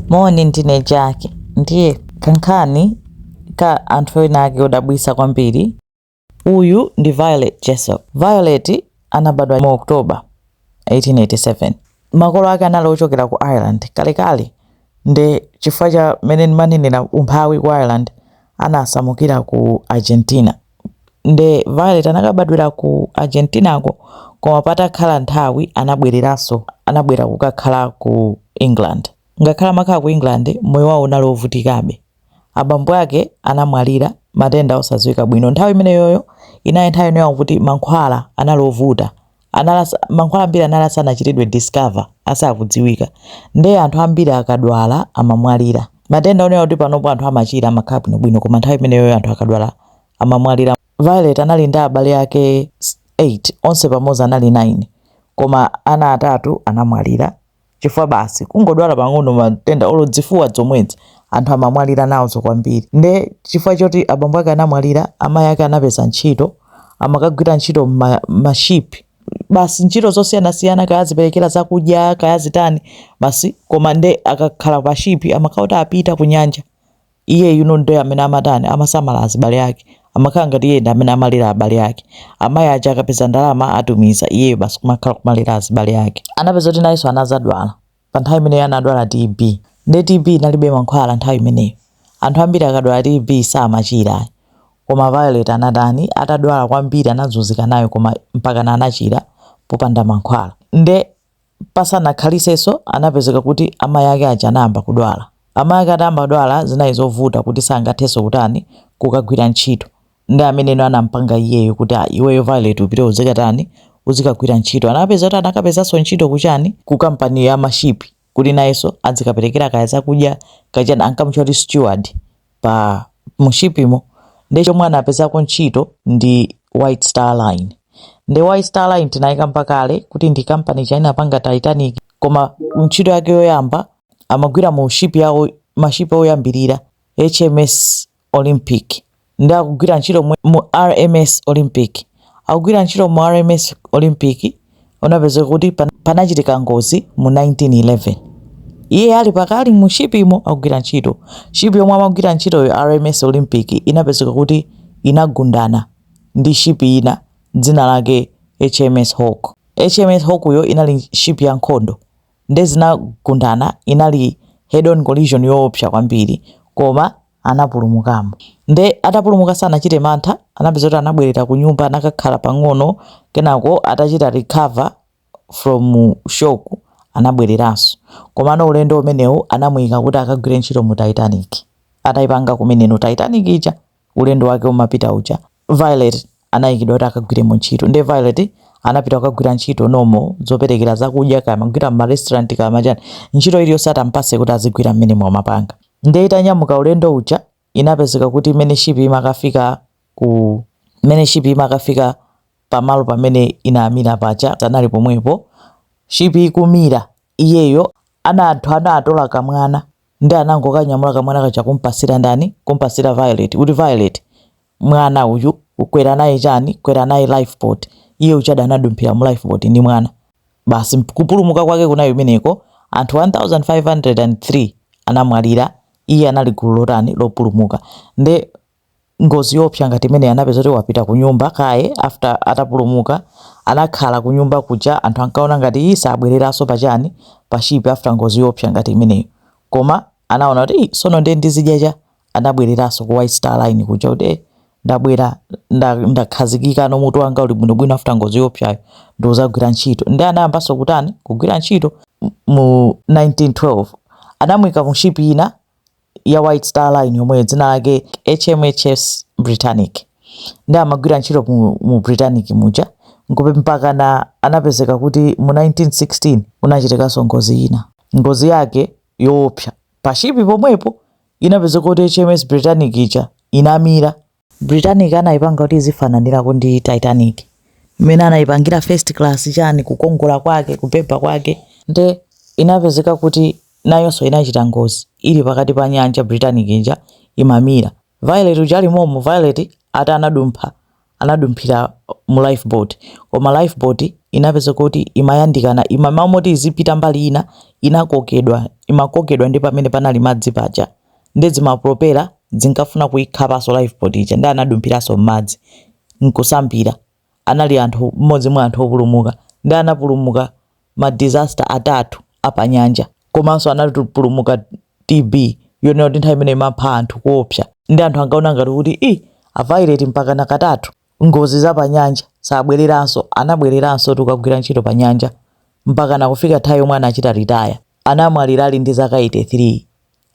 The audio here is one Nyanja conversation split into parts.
Moni, ndine Jack. Ndiye kankhani ka anthu ena ake odabwitsa kwambiri. Uyu ndi Violet Jessop. Violet anabadwa mu October 1887. Makolo ake anali ochokera ku Ireland kalekale, ndi chifukwa cha mmene ndimanenera umphawi ku Ireland anasamukira ku Argentina. Nde Violet anakabadwira ku Argentinako koma patakhala nthawi anabwereranso, anabwera kukakhala ku England. Ngakhale amakhala ku England, moyo wawo unali ovutikabe. Abambo ake anamwalira, matenda osadziwika bwino. Nthawi imeneyoyo inali nthawi yonena kuti mankhwala anali ovuta, anali mankhwala ambiri anali asanachitidwe discover asakudziwika ndiye anthu ambiri akadwala amamwalira matenda onena kuti panopo anthu amachira amakhala bwinobwino koma nthawi imeneyoyo anthu akadwala amamwalira violet anali ndi abale ake 8 onse pamodzi anali 9 koma ana atatu anamwalira chifukwa basi kungodwala pang'ono matenda olo zifuwa zomwezi anthu amamwalira nazo kwambiri nde chifukwa choti abambo ake anamwalira amayi ake anapeza ntchito amakagwira ntchito mma- mashipi basi ntchito zosiyanasiyana kaya aziperekera zakudya kaya zitani basi koma nde akakhala pa shipi amakauta apita ku nyanja Iyeyu no nde amene amatani amasamala azibale ake amakhala ngati iye ndi amene amalera abale ake. Amayi aja akapeza ndalama atumiza, iyeyo basi kumakhala kumalera azibale ake. Anapeza kuti nayenso anazadwala pa nthawi imeneyo anadwala TB nde TB inalibe mankhwala nthawi imeneyo. Anthu ambiri akadwala TB samachira ayi koma Violet anatani atadwala kwambiri anazunzika nayo koma mpakana anachira popanda mankhwala nde Pasanakhalitsenso anapezeka kuti amai ake aja anayamba kudwala. Amai ake atayamba kudwala zinali zovuta kuti sangatheso kutani kukagwira ntchito. Ndi ameneno anampanga iyeyo kuti ah iweyo Violet upite uzikatani uzikagwira ntchito. Anapeza kuti anakapezaso ntchito ku chani ku company ya ma ship kuti nayeso adzikapelekera kaya zakudya kaya chani ankamutcha kuti steward. pa mu shipimo nde chomwe anapezako ntchito ndi white star line nde white star line tinayikamba kale kuti ndi kampani ija inapanga titanic koma ntchito yake yoyamba amagwira mu shipi yawo mashipi oyambirira hms olympic ndi akugwira ntchito mu, mu rms olympic akugwira ntchito mu rms olympic zinapezeka kuti panachitika ngozi mu 1911 iye ali pakali mu shipimo akugwira ntchito shipi yomwe amagwira ntchitoyo rms olympic inapezeka kuti inagundana ndi shipi ina dzina lake hms hawke hms hawke yo inali shipi ya nkhondo nde zinagundana inali head on collision yoopsa kwambiri koma anapulumukamo nde atapulumuka sanachite mantha anapeza kuti anabwerera ku nyumba anakakhala pang'ono kenako atachita recover from shock anabwereranso komano ulendo umenewu anamuyika kuti akagwire ntchito mu titanic ataipanga kumeneno titanic ija ulendo wake umapita uja Violet anayikidwa kuti akagwiremo ntchito ndiye Violet anapita kukagwira ntchito momo zoperekera zakudya kaya amagwira mu restaurant kaya ma chani ntchito iliyonse atampase kuti azigwira mmenemo amapanga ndiye itanyamuka ulendo uja inapezeka kuti imene shipi imakafika ku imene shipi imakafika pamalo pamene inamira paja anali pomwepo shipi ikumira iyeyo ana anthu ana atola kamwana ndi anangokanyamula kamwana kaja kumpasira ndani kumpasira violet kuti violet mwana uyu ukwera naye chani kwera naye lifeboat iye uja anadumphira mu lifeboat ndi mwana basi kupulumuka kwake kunali kumeneko anthu 1503 anamwalira iye anali gulu lotani lopulumuka nde ngozi yoopsa ngati imeneyi anapeza kuti wapita kunyumba kaye after atapulumuka anakhala kunyumba kuja anthu ankaona ngati ii sabwereranso pachani pashipi after ngozi yoopsa ngati imeneyo koma anaona kuti "Ih, sono ndiye ndizidya chani anabwereranso ku white star line kuja kuti "Eh, ndabwera nda- ndakhazikikano mutu wanga uli bwinobwino after ngozi yoopsa ija ndizagwira ntchito ndi anayambanso kutani kugwira ntchito mu 1912 anamwika mu shipi ina ya White Star Line yomwe dzina lake HMHS Britannic ndi amagwira ntchito mu, mu Britannic muja nkupe mpakana anapezeka kuti mu 1916 kunachitikanso ngozi ina ngozi yake yoopsa pashipi pomwepo inapezeka kuti HMS Britannic ija inamira Britannic anaipanga kuti izifananirako ndi Titanic. Mmene anaipangira first class chani kukongola kwake kubhebha kwake nde inapezeka kuti nayonso inachita ngozi ili pakati pa nyanja Britannic ija imamira. Violet uja ali momo Violet ati anadumpha anadumphira mu life boat koma life boat inapezeka kuti imayandikana mmalo moti izipita mbali ina inakokedwa imakokedwa ndi pamene panali madzi paja. nde zimapropela zinkafuna kuikhapanso lifeboat ija nde anadumphiranso mmadzi nkusambira anali anthu mmodzi mwa anthu opulumuka nde anapulumuka ma disaster atatu apanyanja komanso anapulumuka TB yonena kuti nthawi imeneyo imapha anthu koopsa nde anthu ankaona ngati kuti ii a Violet mpakana katatu. ngozi za panyanja sabweleranso anabweleranso tu kukagwira ntchito panyanja mpaka nakufika nthawi yomwe anachita ritaya anamwalira ali ndi zaka 83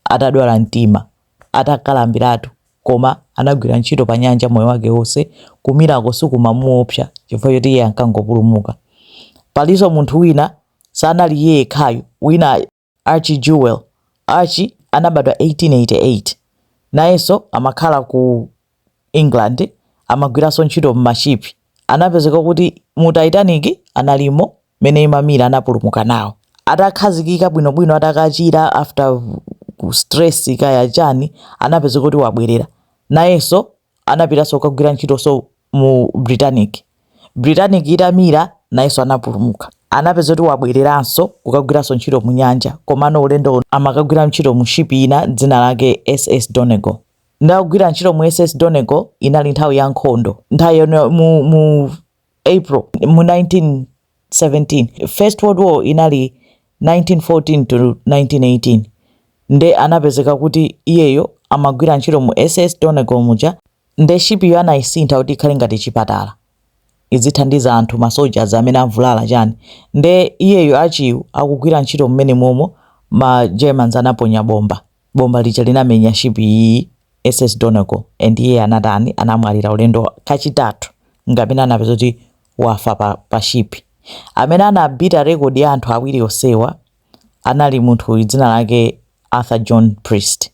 atadwala mtima atakalambiratu koma anagwira ntchito panyanja moyo wake wonse kumirako sikumamuopsa chifukwa choti iye ankangopulumuka palinso munthu wina sanali iye yekhayo wina Archie Jewell, Archie anabadwa 1888, nayenso amakhala ku England, amagwiranso ntchito mma ship, anapezeka kuti mu Titanic analimo mmene imamira anapulumuka nawo. Atakhazikika bwino bwino atakachira after stress kaya chani anapezeka kuti wabwerera nayenso anapitanso kukagwira ntchito so mu Britannic. Britannic itamira, nayenso anapulumuka. Anapeza kuti wabwereranso kukagwiranso ntchito mu nyanja, komano ulendo amakagwira ntchito mu ship ina dzina lake SS Donegal. Ndakugwira ntchito mu SS Donegal, inali nthawi ya nkhondo. Nthawi yomwe mu, mu April mu 19 17 first world war inali 1914 to 1918 nde anapezeka kuti iyeyo amagwira ntchito mu ss donegal muja nde shipiyo anayisintha kuti ikhale ngati chipatala izithandiza anthu ma soldiers amene avulala chani nde iyeyo archie uyu akugwira ntchito mmene momo ma germans anaponya bomba bomba lija linamenya shipi iyi ss donegal and iye anatani anamwalira ulendo kachitatu ngapena anapeza kuti wafa pa pa ship. Amene anabhita record ya anthu awiri onsewa anali munthu dzina lake Arthur John Priest.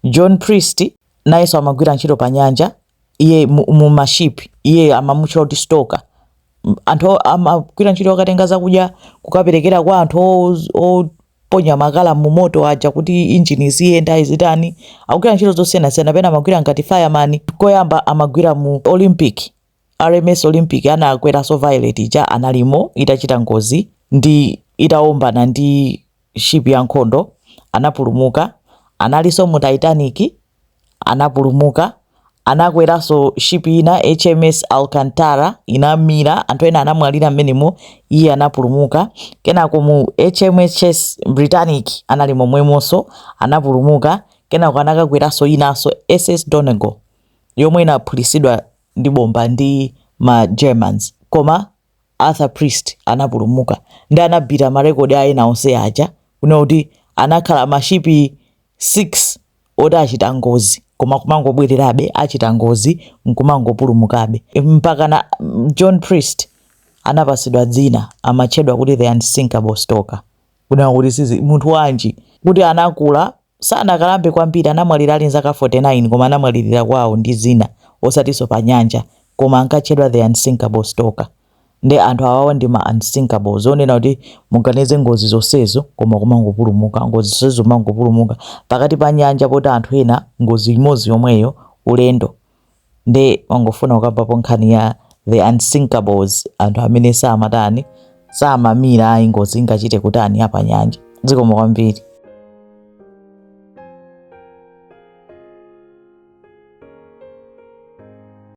John Priest nayenso amagwira ntchito pa nyanja, iye mu, mu ma ship, iye amamutchula kuti stoker. M- Anthu o- amagwira ntchito akatenga zakudya kukaperekera kwa anthu o- oponya makala mu moto aja kuti injini ziyenda izitani. Akugwira ntchito zosiyanasiyana, pena amagwira ngati fireman, koyamba amagwira mu Olympic RMS Olympic anakweranso Violet ija analimo itachita ngozi ndi itawombana ndi ship ya nkhondo anapulumuka, analinso mu Titanic anapulumuka, anakweranso ship ina HMS Alcantara inamira, anthu ena anamwalira mmenemo, iye anapulumuka. Kenako mu HMS Britannic anali momwemonso anapulumuka, kenako anakakweranso inanso SS Donegal yomwe inaphulitsidwa ndi bomba ndi ma Germans koma Arthur Priest anapulumuka ndi anabhita ma record a ena onse aja kunena kuti anakhala ma ship 6 oti achita ngozi koma kumangobwererabe achita ngozi nkumangopulumukabe mpaka na John Priest anapatsidwa dzina amatchedwa kuti the unsinkable stoker kunena kuti sizi munthu wanji kuti anakula sanakalambe kwambiri anamwalira ali nzaka 49 koma anamwalirira kwawo ndi zina osatiso pa nyanja koma ankatchedwa the unsinkable stoker nde anthu awawa ndi ma unsinkable zonena kuti muganize ngozi zonsezo koma kumangopulumuka ngozi zonsezo kumangopulumuka pakati pa nyanja poti anthu ena ngozi imodzi yomweyo ulendo nde ndangofuna kukambapo nkhani ya the unsinkables anthu amene samatani samamira ayi ngozi ingachite kutani ya panyanja zikomo kwambiri